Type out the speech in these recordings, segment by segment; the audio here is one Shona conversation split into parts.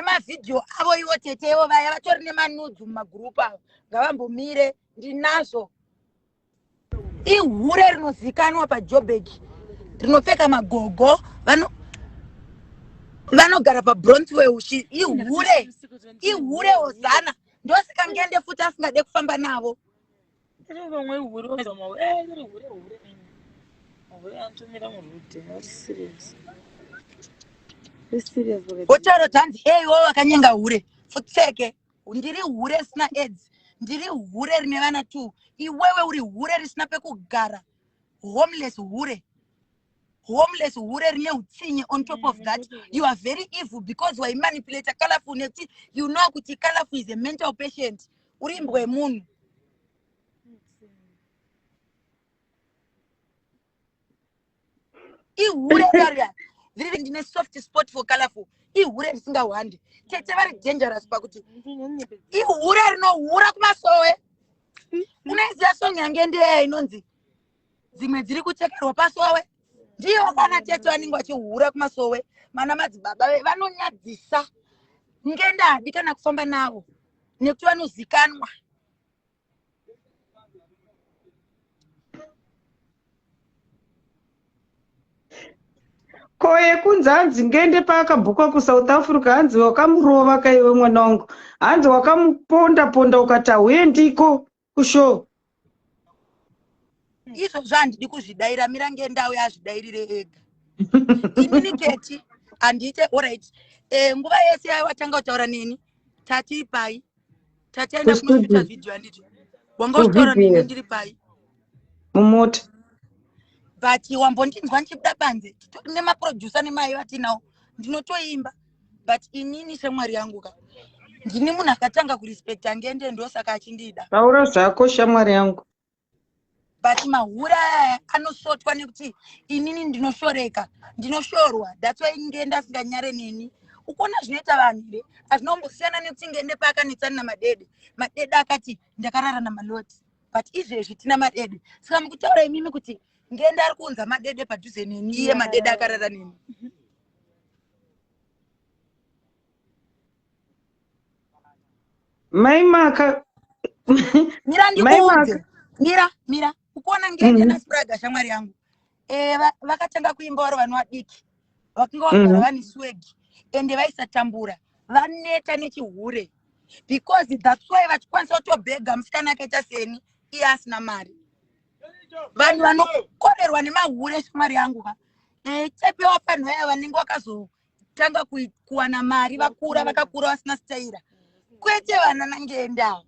nemavhidhiyo avo ivo tete ivo vaya vatori nemanudzi mumagurupu avo ngavambomire ndinazvo ihure rinozikanwa pajobek rinopfeka magogo vano vanogara pabronzway uchi ihure ihure hozana ndosika ngende futi asingade kufamba navo Vamwe hure vamwe eh hure hure hure nini. Hure antumira murude. Very serious. Very serious vakati. Hotoro dzanzi hey iwo wakanyenga hure. Futseke. Ndiri hure risina aids. Ndiri hure rine vana two. Iwewe uri hure risina pekugara. Homeless hure. Homeless hure rine utsinye on top of that. You are very evil because waimanipulator colorful nekuti you know kuti colorful is a mental patient. uri imbwa yemunhu ihure kari viri ndine soft spot for colorful ihure risingahwande tete vari dangerous pakuti ihure rinohura kumasowe unoiziva song yange ndeya inonzi dzimwe dziri kuchekerwa pasowe ndiyo kana tete vanenge vachihura kumasowe mana madzibaba vanonyadzisa ngendadi kana kufamba navo nekuti vanozikanwa ko yekunzi hanzi ngende paakabhuka kusouth africa hanzi wakamurova kaiwe mwana wangu hanzi wakamuponda ponda ukati hauendiko kushow izvo zvandidi kuzvidaira mira ngendau yazvidairire ega inini keti handiite orit eh, nguva yese yayo watanga kutaura neni tati pai tataenda kunoita vhidhiyo handiti wanga uchitaura neni ndiri pai mumota but wambondinzwa ndichibuda panze titori nemaproducer nemai vatinawo ndinotoimba but inini shamwari yangu ka ndini munhu akatanga kurespecta ngende ndosaka achindida taura zvako shamwari yangu but mahura aya anosotwa nekuti inini ndinoshoreka ndinoshorwa thats why ngende asinganyare neni ukuona zvinoita vanhu here azvinombosiyana nekuti ngende paakanetsani namadede madede akati ndakarara namaloti but izvezvi tina madede saka mukutaura imimi kuti ngende ari kuunza madede padhuze neni iye madede akarara neni mm -hmm. mai maka mira ndikuudze mira mira ukuona ngende mm. naspraga shamwari yangu e, vakatanga va kuimba waro vana vadiki vakanga vagara mm. vane swegi ende vaisatambura vaneta nechihure because that's why vachikwanisa kutobhega musikana akaita seni iye asina mari vanhu vanokorerwa nemahure shamwari yangu va eh, chepewa panhu vaya vanenge vakazotanga kuwana mari vakura vakakura vasina sitaira kwete vana nangendawo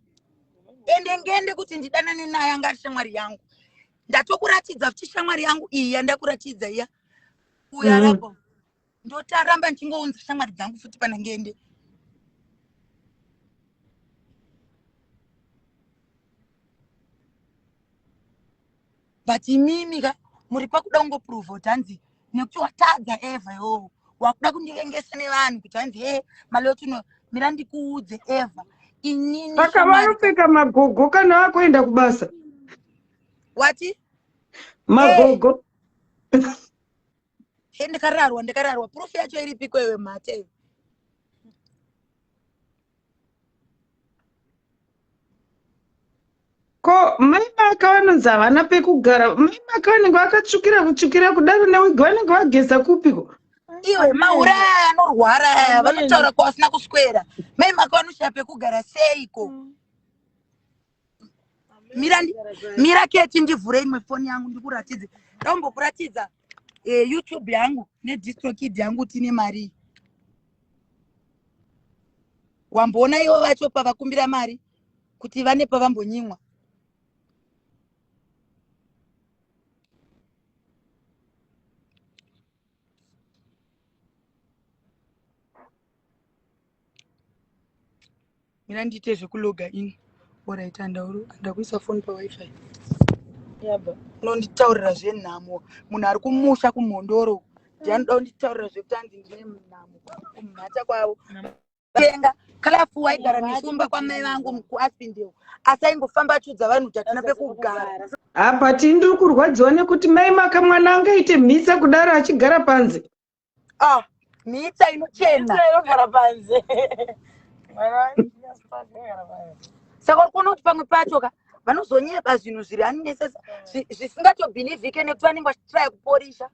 ende ngende kuti ndidanane naye anga ari shamwari yangu ndatokuratidza kuti shamwari yangu iyi yandakuratidza iya uya mm. rabo ndotaramba ndichingounza shamwari dzangu futi pana ngende but imimi ka muri pakuda kungoprova kuti hanzi nekuti watadza eva yoo wakuda kundivengesa nevanhu kuti hanzi e malotuno mira ndikuudze eva inini saka vanopfeka magogo kana vakuenda kubasa wati magogo hey. he ndikararwa ndikararwa proof yacho iripiko iwe mhate ko mai maka vanonzi havana pekugara mai maka vanenge vakatsvukira kutsvukira kudaro newigi vanenge vageza kupiko iwe maura aya anorwara aya vanotaura kwavasina kuswera mai maka vanoshaya pekugara seiko mm. mira mira keti ndivhure imwe foni yangu ndikuratidze ndaumbokuratidza eh, youtube yangu nedistrokid yangu tine marii wamboona ivo vacho pavakumbira mari kuti vane pavambonyimwa mira ndiite zvekuloga in orit andakuisa foni pawifi yabva unonditaurira zvenhamo munhu ari kumusha kumhondoro ndi anoda kunditaurira zvekuti anzi ndine nhamo kumhata kwavo tenga kalafu waigara nesumba kwamai vangu kuaspindel asi aingofamba achiudza vanhu kuti hatina pekugara apa tindiri kurwadziwa nekuti mai maka mwana angaite mhisa kudaro achigara panze ah mhitsa inochena Mhitsa inogara panze mwana waiasagara panze saka uri kuona kuti pamwe pacho ka vanozonyeba zvinhu zviri annesesa zvisingatobhilivhike nekuti vanenge vachitraya kuporisha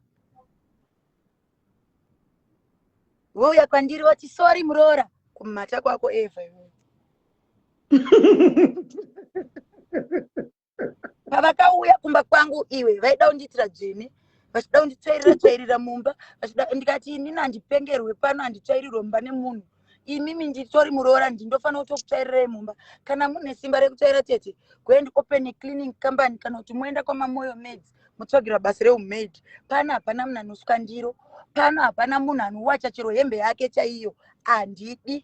vouya kwandiri vati sori muroora kumhata kwako eva iwe pavakauya kumba kwangu iwe vaida kundiitira dzvene vachida kunditsvairira tsvairira mumba vachida ndikati inini handipengerwe pano handitsvairirwe mumba nemunhu imimi nditori muroora ndi ndofanira kutokutsvairirai mumba kana mune simba rekutsvaira tete goend open a cleaning company kana kuti moenda kwamamoyo maids motsvagira basa reumaid pano hapana munhu anosuka ndiro pano hapana munhu anowacha chero hembe yake chaiyo handidi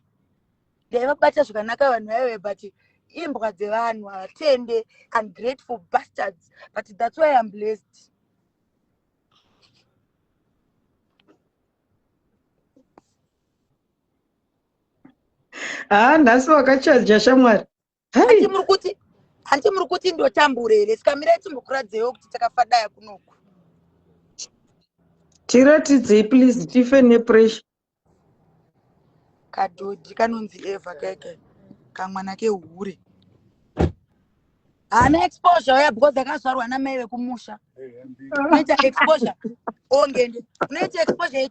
dai vabata zvakanaka vanhu vaive but imbwa dzevanhu havatende ungrateful bastards but thats why im blessed haa ah, nhasi wakachaja shamwari hanti muri kuti hanti muri kuti ndotambure here sikamirai timbokuradzewo kuti takafadaya kunoku tiratidzei please tife nepressure kadhodhi kanonzi eva keke kamwana kehure haana exposure uya because akazvarwa namai vekumusha unoita exposure ongende unoita exposure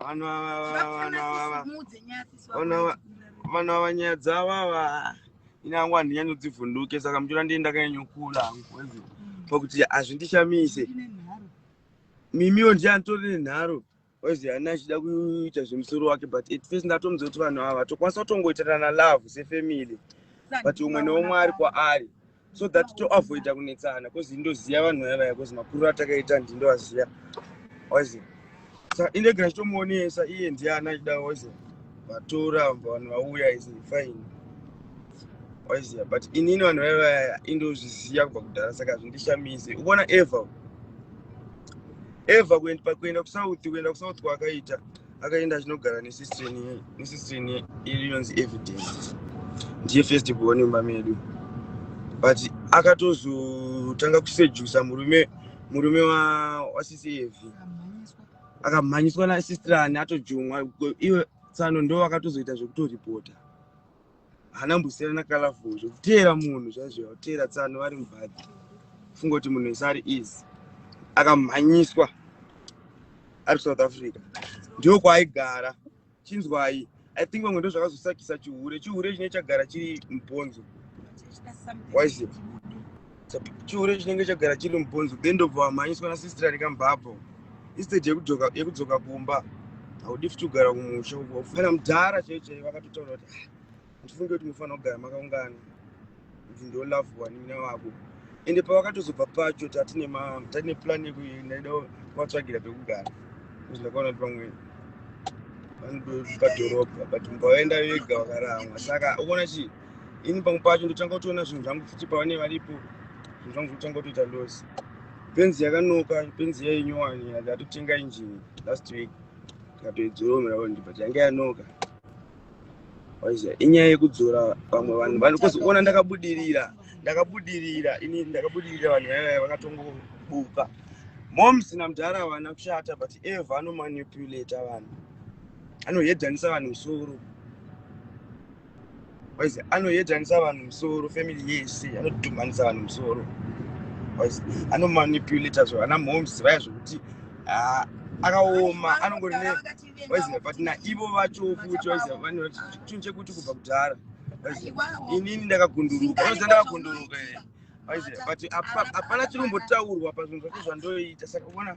Vanhu ava vanhu ava vanhu ava vanhu ava nyaya dzavo ava ini hangu handinyanyodzivhunduke saka muchiona ndii ndakanyanyokula hangu mm. pakuti hazvindishamise mimiwo ndiye anditori nenharo ozi hani achida kuita zvemusoro wake but at first ndatomuza kuti vanhu ava tokwanisa kutongoitirana love sefamily but umwe neumwe ari kwaari so that to avoida kunetsana bcause ndoziva vanhu vaya vaya bcause makuriro atakaita handi ndovaziva wazi sa indege ndachitomuonesa iye ndiye ana achida wazi vatora vanhu vauya is fine waiziva but inini vanhu vaya vaya indozviziva kubva kudhara saka zvindishamise ukuona ever ever kuenda kusouth kuenda kusouth kwaakaita akaenda achinogara nesistrini iri yonzi evidence ndiye first born mumba medu but akatozotanga kusejusa murume murume wasisi evi akamhanyiswa nasistrani atojumwa iwe tsano ndo akatozoita zvekutoripota haana mbusira nakalafo zvekuteera munhu zvaizvo yakuteera tsano vari mubhadhi funga kuti munhu wese ari easy akamhanyiswa ari kusouth africa ndiwo kwaaigara chinzwai i think vamwe ndozvakazosakisa chihure chihure chine chagara chiri mubhonzo wise chihure chinenge chagara chiri mubhonzo then ndobva wamhanyiswa nasistra nekambhabho instead yekudzoka kumba haudi futi kugara kumusha kana mudhara chaiyo chaiyo vakatotaura kuti ah, handifunge kuti mufanira kugara makaungana kuti ndolavhuwa nina vako ende pavakatozobva pacho tatine tatine plan yekuindaida kuvatsvagira pekugara kuzi ndakaona kuti pamwe vanodozvipadhorobha but mumba vaenda vega vakaramwa saka ukuona chii ini pamwe pacho ndotanga kutoona zvinhu zvangu futi pavane varipo zvinhu zvangu zvotanga kutoita los penzi yakanoka penzi yainyowani ndatotenga injini last week ndikatoidzoromera ondi but yange yanoka waiziva inyaya yekudzora vamwe vanhu vanhu kuzoona ndakabudirira ndakabudirira ini ndakabudirira vanhu vaiva vakatongobuka moms namudhara havana kushata but eva anomanipulata vanhu anohedhanisa vanhu musoro waizi anoyedanisa vanhu musoro family yese anodhumhanisa vanhu musoro waizi anomanipulata zvo ana moms vaya zvokuti ah, akaoma anongori ne waizi but naivo vacho futi waizi vanoti chinhu chekuti kubva kudhara waizi inini ndakagunduruka waizi ndakagunduruka eh. waizi but hapana chiri kumbotaurwa pazvinhu zvacho zvandoita saka uona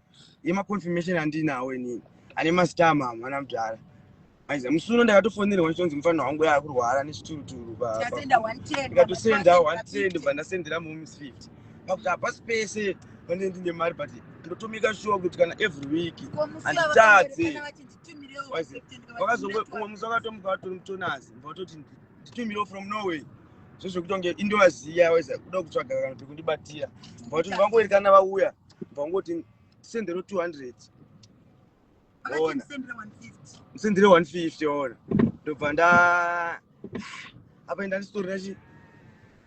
yema confirmation andinawo inini ane mastar mama ana mudhara aiza musi uno ndakatofonerwa ndichonzi mufanira wangu yava kurwara nechituruturu ikatosenda 110 ndobva ndasendera momis 50 pakuti hapasi pese pane ndine mari but ndotomika shuwa kuti kana every week handitadze vakazongoumwe musi vakatomuka vatori mutonazi mva vatoti nditumirewo from norway zvezvekutonge indovaziya waiza kuda kutsvaga kana pekundibatira mva kuti vangoerekana vauya bva ungoti ndisendero 200 ona ndisendere 150 ona ndobva nda apa enda ndisitorina chi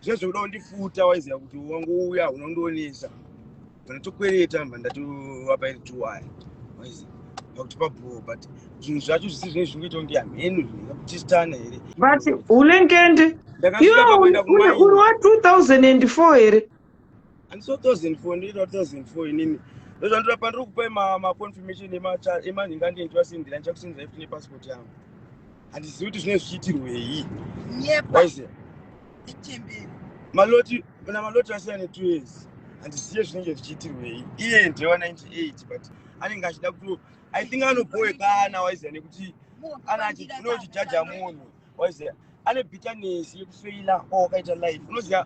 zviya zvekuda kundifuta waiziva kuti wangouya unondionesa ndinotokwereta mba ndatovapa iri tuwaya waiziva pakuti pabhoo but zvinhu zvacho zvisi zvinenge zvingoita kunge hamhenu zvinoda kutistana here but unengende iwe uri wa 2004 here Handiso 2004 ndiri 2004 inini. Ndozvandira pandiri kupai ma ma confirmation ema ema ndinga ndinga sindira ndicha kusindira ifuti ne passport yangu. Handizivi kuti zvine zvichiitirwe hii. Nyepa. Waise. Ichembere. Maloti na maloti asiyana ne 2 years. Handizivi zvinenge zvichiitirwe hii. Iye ndiye wa 98 but anenge achida kuti I think anoboe kana waise nekuti ana achinochijaja munhu. waiziva ane bitterness yekufeila o wakaita life unoziva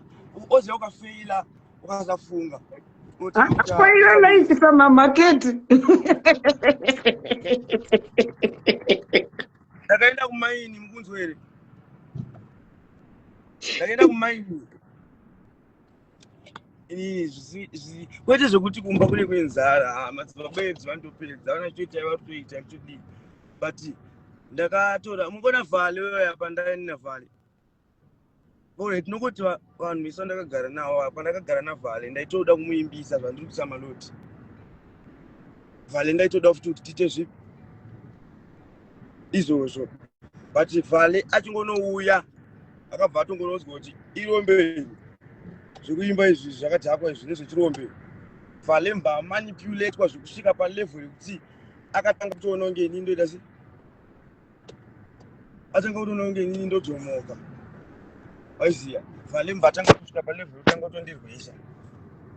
oziva ukafeila ukasafunga Spoiler light from a market. Ndakaenda kumaini mukunzwere. Ndakaenda kumaini. kwete zvekuti kumba kune kwenzara ah, madzibaba edzi vanotopedza vana choita vatoita chidii but ndakatora mukona vhale weya pandaina vhale ore tinongoti vanhu vese vandakagara navo apa ndakagara navhale ndaitoda kumuimbisa zvandiri kuisa maloti vhale ndaitoda futi kuti tiite zvipi izvozvo but vale achingonouya akabva atongononzwa kuti irombei zvekuimba izvi zvakadhakwa izvi nezvechirombe vale mba manipulatwa zvekusvika palevel yekuti akatanga kutoona kunge inini ndoita se atanga kutoona kunge inini ndodzomoka waiziva vale mba atanga kusvika palevel yekutanga kutondirwisa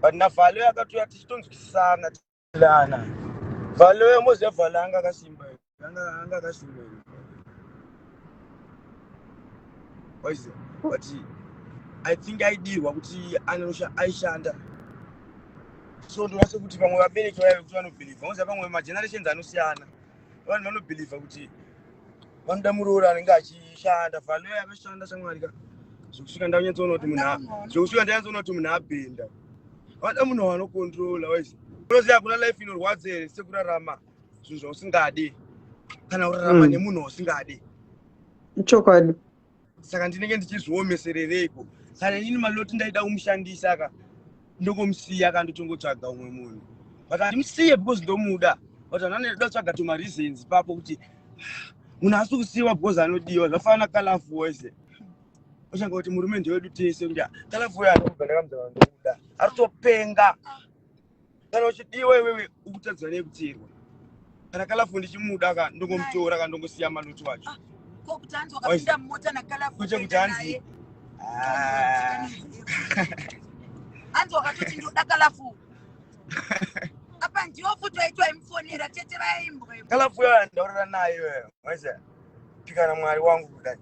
but navale akatouya tichitonzwisisana Lana. Valo yomuze vala anga kasimba. Anga anga kasimba. Waize. But I think I did what kuti anosha aishanda. So ndinase kuti vamwe vabereki vaya vekuti vanobelieve. Vanoziva vamwe magenerations anosiyana. vanhu vanobhilivha kuti vanoda muroora anenge achishanda valoya akashanda shamwari ka zvekusvika ndanyatsoona kuti munhu zvekusvika ndanyatsoona kuti munhu abhenda vanoda munhu wanokontrola wise unoziva hakuna life inorwadza here sekurarama zvinhu zvausingadi kana kurarama hmm. nemunhu wausingadi chokwadi saka ndinenge ndichizviomeserereiko kana inini maloti ndaida kumushandisa ka ndokomusiya ka ndotongotsvaga umwe munhu but andimusiye because ndomuda but anani ndoda kutsvaga tuma reasons ipapo kuti ah, munhu asi kusiyiwa because anodiwa zvafana na kalafu wese uchanga kuti murume ndewedu tese kuti ah, kalafu uyo anogandakamuda ari kutopenga kana uchidiwa iwewe ukutadzwa nekuteerwa kana kalafu ndichimuda ka ndongomutora ka ndongosiya manoti wacho ah, kwete kuti hanzi ah. hanzi wakatoti ndoda kalafu apa ndiwo futi waitwa imufonera tete vaimbwa kalafu yo ndaurira nayo pikana mwari wangu kudai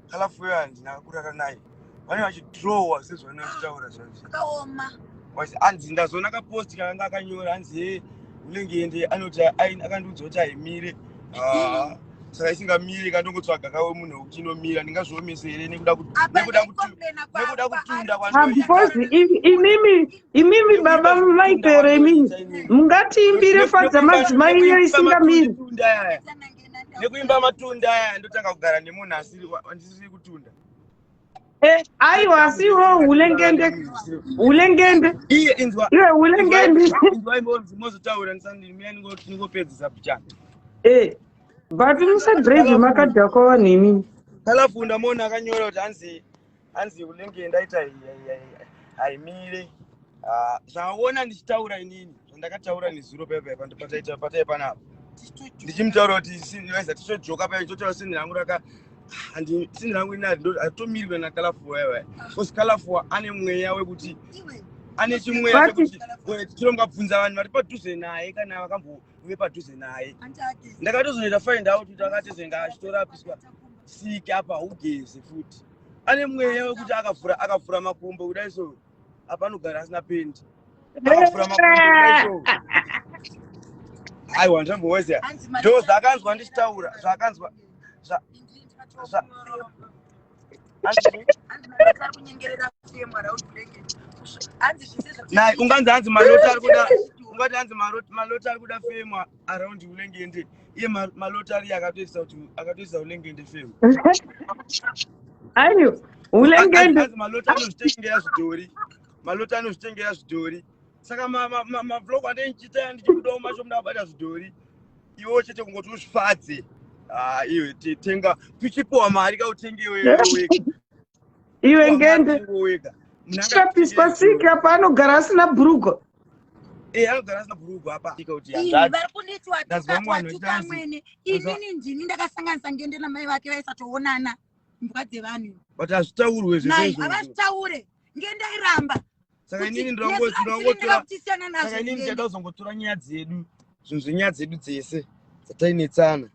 halafu weyo handina kurara naye vane vachidrowa sezvavanenge vachitaura zvazvo akaoma was hanzi ndazoona kaposti kakanga akanyora hanzi hee unenge ende anoti aini akandiudza kuti haimire Ah, saka isingamiri ikandongotsvaga kawe munhu wekuti inomira ndingazviomese here nekuda kut- apa nekuda kut- ndaicomplaina nekuda kutunda Ah, because kwandinoita i- imimi imimi nekuda baba kutunda maipere imimi kwandinoita inini mungatiimbire Ne- fadza nekuimba madzimai nekuimba iyo matonde isingamiri tunda yaya kwaaitanange nekuimba matunda aya ndotanga kugara nemunhu asiri andisiri kutunda eh, aiwa asiwo hulengende hulengende iye inzwa iwe hulengende inzwa imbo mozotaura ndisandiri mina ningopedzisa bjana eh but musadrive makadhakwa vanhu imini kalafunda mona akanyora kuti hanzi hanzi unenge ndaita haimire ah, zvaona ndichitaura inini zvandakataura nezuro paipatai panapa ndichimutaura kuti sinza tichojoka paya chotaura sini rangu raka handi sini rangu ini hatomirwe nakalafua yava bcause kalafua ane mweya wekuti ane chimweya chekuti tirongabvunza vanhu vari padhuze naye kana vakambove padhuze naye ndakatozoita find out kuti akatizenge achitorapiswa siki apa ugeze futi ane mweya wekuti akavhura akavhura makumbo kudai so apanogara asina pendi akavhura makumbo kudai so aiwa ndizvambowezea ndo zvaakanzwa ndichitaura zvaakanzwa nai unganzi hanzi maloti ari kuda ungati hanzi maloti ari kuda femwa around unenge ende iye ma- malotari akatoisa kuti akatoisa unenge ende fero ayo Anzi- ulengende anzi malota anozvitengera zvidhori malota anozvitengera zvidhori saka ma- ma- ma- mavlog andei ndichiita ndichibudawo macho muda kubata zvidhori iwewo chete kungoti uzvifadze Ah, iwe te- tenga pichipuwa mari kautenge iwe iwe wega iwe Pichipuwa mari ngende utenge iwe wega Munhu angakutengeyi chapiswa siki zvidhori apa anogara asina bhurugo Eh, anogara asina bhurugwa apa vari kundiitiwa tukamwene inini ndini ndakasanganisa ngende namai vake vaisatoonana mbwa dzevanhu but hazvitaurwe zvavazvitaure ngendairamba saka inini ndinongotorainini ndichada kuzongotora nyaya dzedu zvinhu zvenyaya dzedu dzese dzatainetsana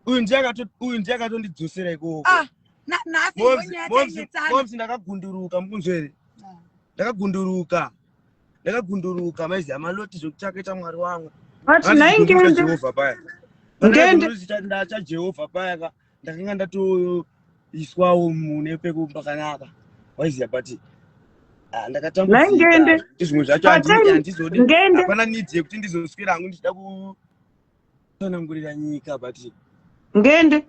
uyu ndiye akato uyu ndiye akatondidzosera ikoko ah na nasi ngonya tanyetsana momsi ndakagunduruka mukunzwe here ah. ndakagunduruka ndakagunduruka maizi amaloti zvekuchakaita mwari wangu but nhai ngende jehovha paya ngende ndacha jehovha paya ka ndakanga ndatoiswawo mune pekupakanaka waiziya but ah, ndakatambudzika zvimwe zvacho handizodi hapana nidzi yekuti ndizoswera hangu ndichida ku tsanangurira nyika but ngende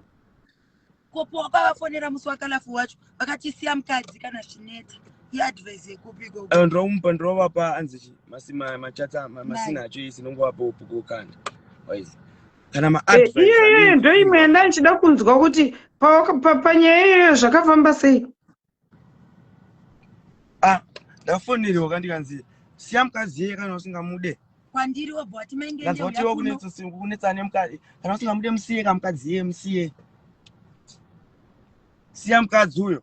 kopo wakavafonera musi wakalafu wacho vakatisiya mukadzi kana zvineta iadvise yekupi ko Eh, ndinomupa ndinovapa anzi chi masi- ma- machatsa ma- masina acho isi ndingovapa upuko kanda waizi kana ma Eh, iyoyo ndoimwe yandaichida kunzwa kuti pa- pa- panyaya iyoyo zvakafamba sei ah ndafonerwa kandikanzi siya mukadzi yeye kana usingamude kwandiri wobva wati maingeazotiwa kunetsa nemukadzi kana usingamude musiye ka mukadzi yeye musiye siya mukadzi uyo